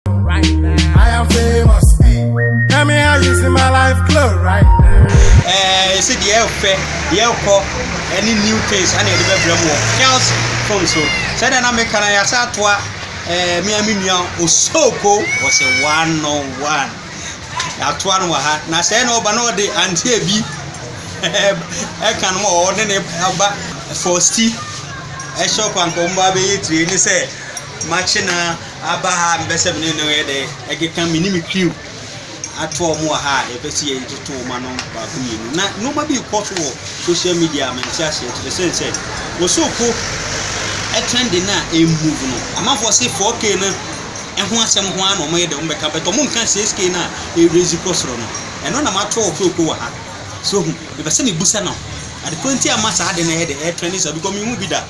right now. I am famous. Tell me how you see my life glow right now. Eh, you see the air fair, the air call, any new things, and the development more. Health from so. Said I make an ayasatwa, eh, me and me now, Osoko was a one on one. Atoa no wɔ ha na sɛ na ɔba na ɔde anteɛ bi ɛka no ma ɔwɔ ne ne aba fɔsti ɛhyɛ ɔkwanko mba bɛyɛ tire ne sɛ makye na. aba ha a mepɛ sɛ me ne no yɛ dɛ ɛkeka me ne me crew ato wɔn wɔ ha a yɛpɛ sɛ yɛtoto wɔn ano baako mmienu na nneɛma bi rekɔ so wɔ social media a mente aseɛ kyerɛ sɛ sɛ wɔsoko ɛtrɛnde no a ɛmmove no amanfoɔ se 4k no ɛho asɛm ho ara na wɔyɛ dɛ wɔbɛka bɛtɔ mo nka 6k no a ɛrezi kɔ soro no ɛno na mato wɔ soko wɔ ha so hu mepɛ sɛ mebusa no adekorɔ nti ama saa ade no ɛyɛ dɛ ɛtrɛnde saa because mehu bi da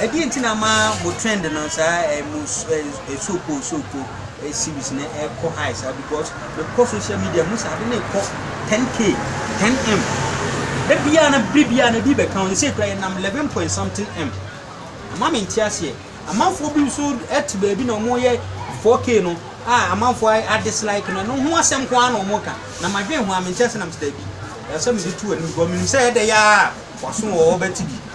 Ɛdeɛn nti na ama mo trend no saa eh, mo eh, eh, so cool so cool eh, series no ɛkɔ high saa because mekɔ social media mu sɛ ade no ɛkɔ 10k 10m da biara na bere biara na ebi bɛka wɔn sɛ kura yɛnam 11 point something m ama me nte aseɛ amanfoɔ bi nso ɛte baabi na wɔyɛ 4k no a amanfoɔ a dislike no ɛno ho asɛm ko ara na wɔn ka na madwen ho a mente ase nam sɛ daabi ɛsɛ mede to anim because menim sɛ ɛdɛ yɛ a waso wɔ hɔ bɛte bi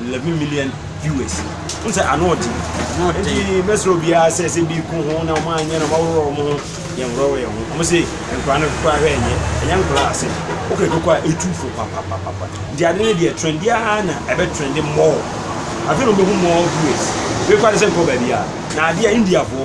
11 million viewers n sɛ ano ɔden nti mɛsrɛ obiara sɛ sɛ bi ko ho na ɔma anyɛ na ɔmaworɔ ɔmo ho yɛnworɔwɔ yɛn ho ɔmo se nkora no kokora hwɛ ɛnyɛ ɛnyɛ nkora ase wokɛ koko a ɛtu fo papapapapa nti ade no deɛ trend biara na ɛbɛ trend mmɔɔ afei na ɔbɛhu mmɔɔ viewers wei kora ne sɛ nkɔ baabi a na adeɛ a indiafoɔ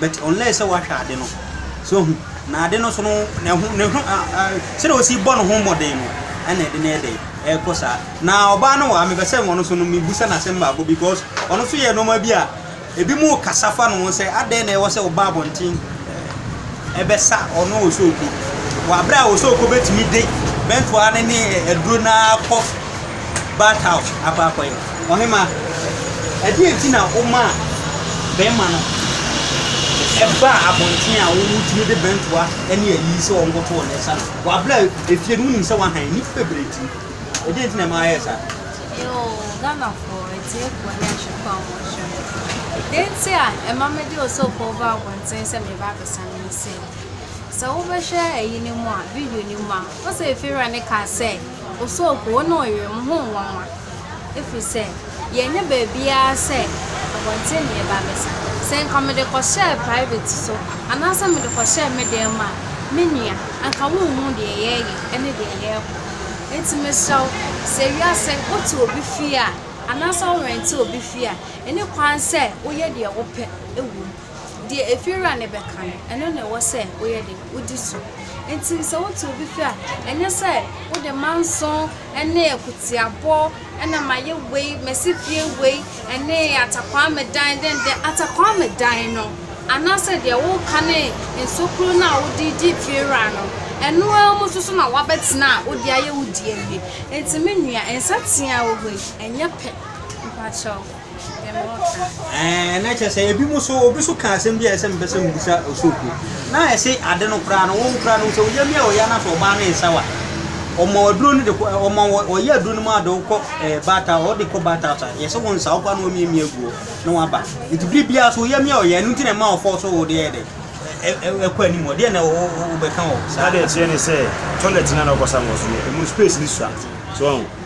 but unless sɛ wahwɛ ade no so ohu na ade no so no ne ho ne ho sɛdeɛ ɔsi bɔ ne ho mmɔden no ɛna ɛde no yɛ dɛ ɛkɔ saa na ɔbaa no wɔ ha mepɛ sɛ ɔno so no mebusa no asɛm baako because ɔno so yɛ nneɛma bi a ebi mu kasa fa no ho sɛ adɛn na ɛwɔ sɛ ɔba abɔnten ɛbɛsa ɔno ɔsɔɔku wɔ aberɛ a ɔsɔɔku bɛtumi de bɛntoa ne ne aduro no akɔ bath house akɔ akɔyɛ Ɔhemmaa, ɛdeɛn nti na womaa bɛmma no baa abɔnten a wotumi de bɛntoa ne ayi sɛ wɔnkoto wɔn nsa no wɔ abere a efie no wonim sɛ wahan nnipa bebree ti no? Ɛdeɛn nti na ɛma ayɛ saa? Yoo, Ghanafoɔ atiefoɔ ne ahwɛfoɔ a wɔhwɛ me. Deɛ nti a ɛma mede Osogbo baa abɔnten sɛ mereba abɛsa no ne sɛ, sɛ wobɛhwɛ ayi no mu a, video no mu a, wohu sɛ efiewura no kaa sɛ, Osuakuo, wo ne ɔyere, mo ho nnwanwa, ɛfiri sɛ, yɛnnyɛ baabiara sɛ abɔnten na yɛba abɛsa. Sɛ anka mede kɔhyɛɛ private so anaasɛ mede kɔhyɛɛ me dan mu a, me nua, anka wonhuu deɛ yɛreyɛ ne deɛ yɛrekɔ. Enti mesrɛ wo, sɛ wiase wote obi fie a, anaasɛ worente obi fie a, nni kwan sɛ woyɛ deɛ wopɛ wom. Deɛ efiewura no bɛka no, ɛno na ɛwɔ sɛ woyɛ dɛn? Wodi so. Enti sɛ woto obi fi a, ɛnyɛ sɛ wode manso ne akutuabɔ na mayɛ wei, masi fie wei, ne atakwame dan denden. Atakwame dan no anaasɛ deɛ woka ne nsokuro no a wode di fiewura no, ɛno ara mu nso so na woabɛtena a wode ayɛ wo di awie. Enti me nua, nsateaa wɔ hɔ yi, ɛnyɛ pɛ. Mepa kyɛw. Ɛɛ, na kyerɛ sɛ ebi mu so, obi so ka asɛm bi a ɛsɛ mpɛ sɛ mbisa osooku. Na ɛse ade no koraa no, wɔn koraa no sɛ wɔyɛ mi a wɔyɛ na sɛ ɔbaa no nsa wa. Ɔma aduro no de kɔ, ɔma wɔ, ɔyɛ aduro no mu ade kɔ ɛɛ baata, ɔde kɔ baata asa. Yɛsɛ wɔn nsa ɔkɔ na wɔn mie mie guo na wɔn aba. Nti biri biara so wɔyɛ mi a wɔyɛ, ɛnu nti na ɛma ɔfɔ so wɔde yɛ dɛ. Ɛkɔ anim hɔ, deɛ na wɔbɛka wɔ saa. Ade ɛteɛ ne sɛ, toilet na na ɔkɔ sa wɔ so no, emu space no sua. So wɔn.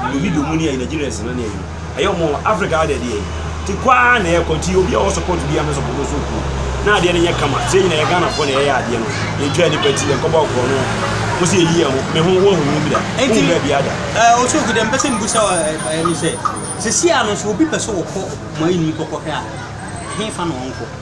Ɔmo bi dɔ mu ne yɛ Nigerians no ne yɛ no ɛyɛ ɔmo nwa Africa ha dɛ deɛ te kɔ ara na ɛkɔ nti obi a ɔwɔ support bi a mɛ support nso kuo na adeɛ no nyɛ kama sɛ nyina yɛ Ghana fo na ɛyɛ adeɛ no yɛn twɛ nipa ti yɛn kɔbɔ ɔkorɔ no mo sɛ yɛyi yɛn ho me ho wɔn hunu bi da wɔn bɛ bi ada. Ɔsɛ oku dɛm pɛsɛ mbu sɛ ɛni sɛ sɛ si a no sɛ obi pɛsɛ ɔkɔ mo ayi no mu kɔkɔ hwɛ a ɛhe fa na ɔnkɔ.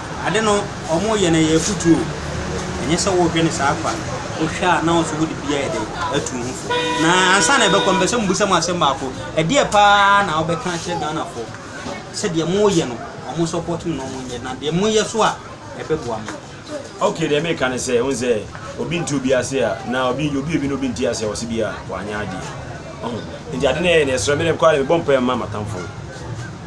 Ade no wɔyɛ no ɛyɛ afutuo o, ɛnyɛ sɛ wohwɛ no saa kwa, wohwɛ a na wo nso wode bi ayɛ dɛn atu wo ho fo. Na ansa na ɛbɛkɔ mpɛ sɛ mbusa mu asɛm baako, ɛdeɛ paa na wobɛka akyerɛ Ghanafoɔ sɛ deɛ moyɛ no wɔn support mu na wɔn nyɛ na deɛ moyɛ so a ɛbɛboa mo? Okay deɛ meka ne sɛ wohu sɛ obi nte obi ase a na obi obi obi na obi nte ase a wɔsi bi a wɔanyɛ adeɛ ɔho nti ade no ɛyɛ na ɛsrɛ me dɛ mekɔ ara mebɔ mpaeɛ mma m'atamfoɔ.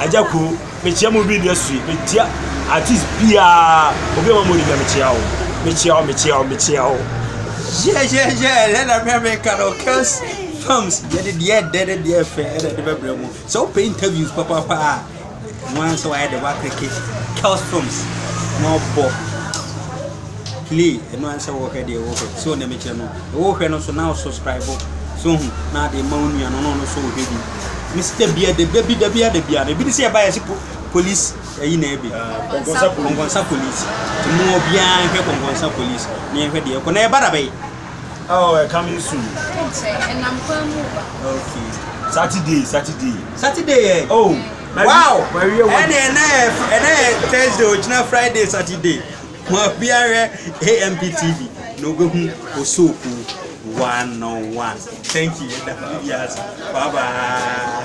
Agya Koo, mekyea mo obi nnua sui, mekyea artist biara, obi a ɔma mo ɔdibia mekyea wo, mekyea wo, mekyea wo, mekyea wo. Yɛyɛyɛ ɛdɛ na mmerɛ meka no Kels Films yɛde deɛ ɛdɛ ne deɛ ɛfɛ ɛna ɛde bɛbrɛ mu. Sɛ wopɛ interviews papaapa a, mo ara sɛ wayɛ de woakleke Kels Films na ɔbɔ. play ɛno ara sɛ wɔhwɛ deɛ wɔhwɛ sɛ ɔnam kyerɛ no wɔhwɛ no so na subscribe so hu na ade ma wo nua no na ɔno so ɔhwɛ bi ne sɛ da bia da bi da bia da bia na ebi ne sɛ ɛba yɛ se police ɛyi na ɛbi kɔnkɔnsa police ti mu obiara hwɛ kɔnkɔnsa police na yɛhwɛ deɛ ɛkɔ na ɛba da bɛyi Oh, uh, coming soon. Okay. Saturday, Saturday. Saturday, yeah. Oh. Wow. And then, and then Thursday, original Friday, Saturday. Ma obiara hwɛ AMP TV na obehu Osooku one on one. Thank you, yɛda obiara ase. Bye bye.